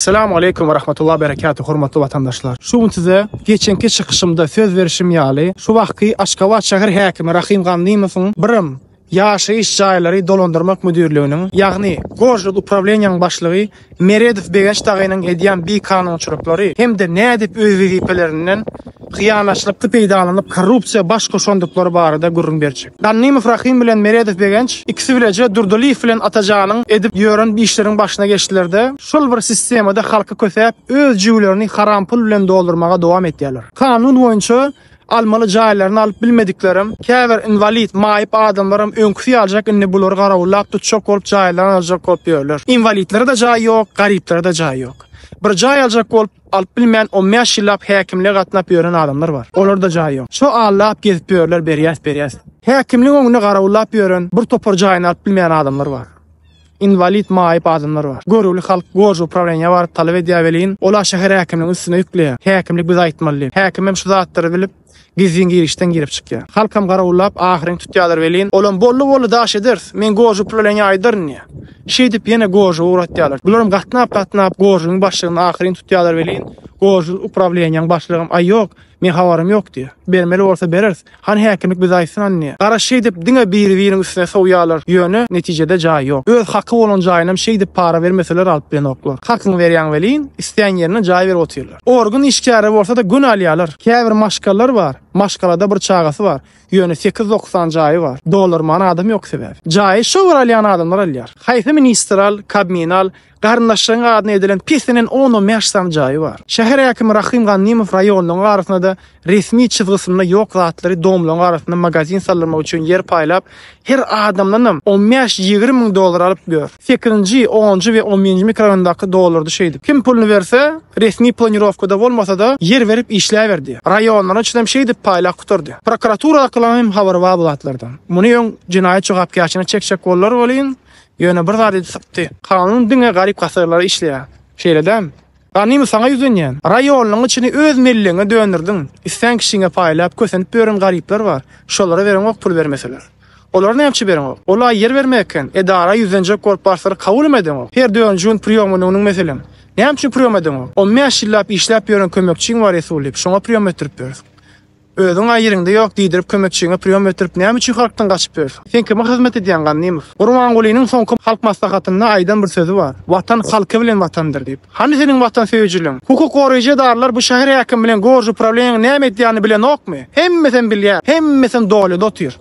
Salam Aleýkum we Rahmatullah we Berekatuh hormatly watandaşlar. Şu gün size geçenki çykyşymda söz berişim ýaly şu wagtky Aşgabat şäher häkimi Rahym Gandymowyň Birm ýaşaýyş jaýlary dolandyrmak müdirliginiň ýagny Gorjod uprawleniýäniň başlygy Meredow Begenç dagynyň edýän bikanunçylyklary hem-de nädip öz wezipelerinden hyýanatçylykda peýdalanyp, korrupsiýa baş goşandyklary barada gürrüň berjek. Gannymow Rahym bilen Meredow Begenç ikisi bileje Durdylyýew bilen Atajanyň edip ýören işleriň başyna geçdiler-de, şol bir sistemada halky kösäp, öz jübülerini haram pul bilen doldurmaga dowam etýärler. Kanun boýunça almaly jaýlaryny alyp bilmediklerem, käbir inwalid, maýyp adamlaram öňküsi ýaljak indi bulary garawullap tutjak bolup jaýlaryny aljak bolup ýörler. Inwalidlere-de jaý ýok, garyplara-da jaý ýok. Bir jaý aljak bolup, Alyp bilmän on bäş ýyllap häkimlige gatnap ýören adamlar bar. Olarda jaý ýok. Şo allap gezip ýörler berýäs berýäs. Häkimligiň öňünde garawullap ýören bir topar jaýyny alyp bilmeýän adamlar bar. Inwalid maýyp adamlar bar. Görüwli halk gorji uprawleniýa baryp talap edýär welin ola şäher häkimligiň üstüne ýükleýär. Häkimlik bize aýtmaly diýip. Häkimem şu zatlary bilip. Gizlin girişden girip çykýar. Halkam garawullap, ahyryn tutýarlar welin, olam Bolly-bolly daş ederis, men gožy pul bilen ýaýdaryn diýýär. Şeýdip, ýene gožy ugratýarlar. Bularam gatnap-gatnap gožynyň başlygyny ahyryn tutýarlar welin, gožy uprawleniýäň başlygam, Aý, ýok, meň habarym ýok diýýär. Bermeli bolsa bereris. Hany häkimlik bize aýtsyn hany diýýär. Gara şeýdip diňe biri-biriniň üstüne sowýarlar, ýöne netijede jaý ýok. Öz haky bolan jaýynam şeýdip para bermeseler alyp bilenoklar. Hakyňy berýäň welin, islän ýerine jaý berip otyrlar. Organ işgäri bolsa-da gün alýarlar. Käbir maşgalalar bar, maşgalada bir çagasy bar, ýöne sekiz-dokuz sany jaýy bar. Doldurman adam ýok sebäbi. Jaýy şo bir alýan adamlar alýar. Haýsy ministr al, Kabmini al, garyndaşlaryň adyna edilen pesinden on-on bäş sany jaýy bar. Şäher häkimi Rahym Gannymow raýonlaryň arasynda-da Resmi çyzgysynda ýok zatlary domlaň arasynda magazin saldyrmak üçin ýer paýlap, her adamdanam on bäş, ýigrimi müň dollar alyp ýör. Sekizinji, onunjy we on birinji mikroraýondaky dollardy şeýdip. Kim puluny berse, resmi planirowkada bolmasa-da, ýer berip işläberdi. Raýonlaryň içindem şeýdip paýlap gutardy. Prokuraturadakylaryň hem habary bar bu zatlardan. Muny öň jenaýat jogapkärçiligine çekjek boldular welin, ýöne bir zady sypdy. Kanun diňe garyp-gasarlara işleýär. Şeýle dämi? Ganymy saňa ýüzlenýän. Raýonyň içini öz mellegiňe dönürdiň. Islän kişiňe paýlap, kösenip ýören garyplar bar. Şolara bereňok pul bermeseler. Olar näme üçin bereňok? Ol-a ýer bermek eken. Edara ýüzlenjek bolup barsalar kabulem edeňok. Her dördünji gün priýomyny onuň meselem. Näme üçin priýom edeňok? On bäş ýyllap işläp ýören kömekçiň bar Resullyp. Şoňa priýom etdirip ýörüs. Özüň a ýeriňde ýok diýdirip kömekçiňe priýom ötürip näme üçin halkdan gaçyp ýörsüň? Sen kime hyzmat edýäň Gannymow? Gurbangulynyň soňky halk maslahatynda aýdan bir sözi bar, Watan halky bilen watandyr diýip. Hany seniň watansöýüjiligiň? Hukuk goraýjy edaralar bu şäher häkimi bilen gorji uprawleniýaň näme edýänini bilenokmy? Hemmesem bilýär, hemmesem dolyada otyr.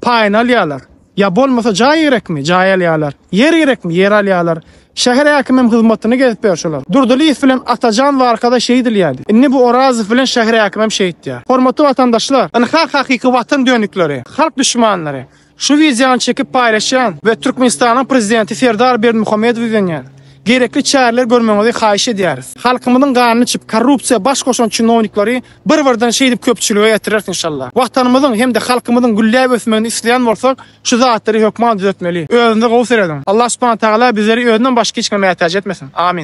Paýyny alýarlar. Ýa bolmasa jaý gerekmi, jaý alýarlar. Ýer gerekmi, ýer alýarlar. Şäher häkimem hyzmatyny gezip ýör şolar. Durdylyýew bilen Atajan Warkada şeýdil ýärdi. Indi bu Orazow bilen şäher häkimem şeýtýär. Hormatly watandaşlar, ynha hakyky watan dönükleri, halk düşmanlary. Şu wideony çekip paýlaşýan we Türkmenistanyň prezidenti Serdar Berdimuhamedow ýüzlenýän. Gerekli çäreler görmegiňizi haýyş edýäris. Halkymyzyň ganyny içip korrupsiýa baş goşan çinownikleri Bir birden şeýdip köpçülige ýetireris inşallah. Watanymyzyň hem-de halkymyzyň gülläp ösmegini isleýän bolsak şu zatlary hökman düzetmeli. Özünize gowy serediň. Allah subhana tagala bizleri özünden başga hiç kime mätäç etmesin. Amin.